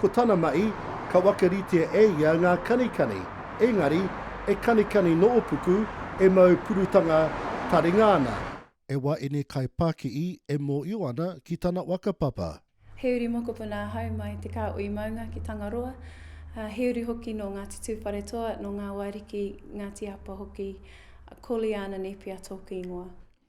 Ko tana mahi, ka wakaritea e ia ngā kanikani, engari, e kanikani noopuku, e mau purutanga taringa ana. E waini kai pakii e mooio ana ki tana whakapapa. He uri mokopuna ahau mai te Kāhui Maunga ki Tangaroa, ā, he uri hoki nō Ngāti Tūwharetoa, nō Ngāwāriki, Ngāti Apa hoki, Coleana Nepia tōku ingoa.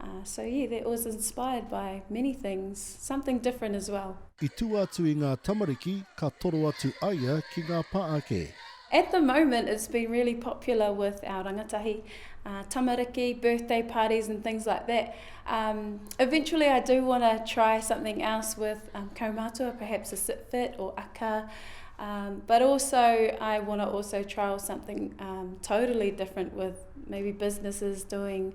Uh, so yeah, that was inspired by many things, something different as well. I tua atu i ngā tamariki, ka toro atu aia ki ngā pa ake. At the moment, it's been really popular with our rangatahi, uh, tamariki, birthday parties and things like that. Um, eventually, I do want to try something else with um, kaumatua, perhaps a sit fit or aka. Um, but also, I want to also trial something um, totally different with maybe businesses doing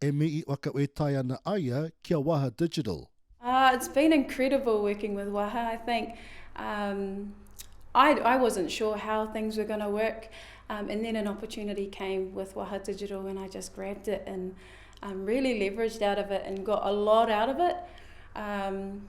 E mii i whakawetai ana aia ki a Waha Digital. Ah it's been incredible working with Waha I think um I I wasn't sure how things were gonna work um and then an opportunity came with Waha Digital and I just grabbed it and um really leveraged out of it and got a lot out of it um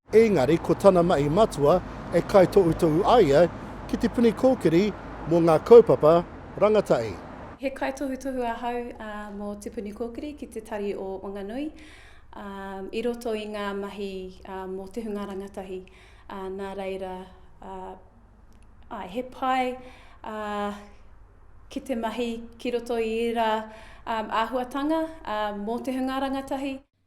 Engari ko tana mahi matua e kaitohutohu a ia ki te puni kōkiri mō ngā kaupapa rangatahi. He kaitohutohu ahau mō te puni kōkiri ki te tari o Wanganui i roto i ngā mahi mō te hunga rangatahi, nā reira, āe, he pai ki te mahi ki roto i ērā āhuatanga mō te hunga rangatahi.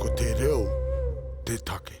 Ko te reo te take.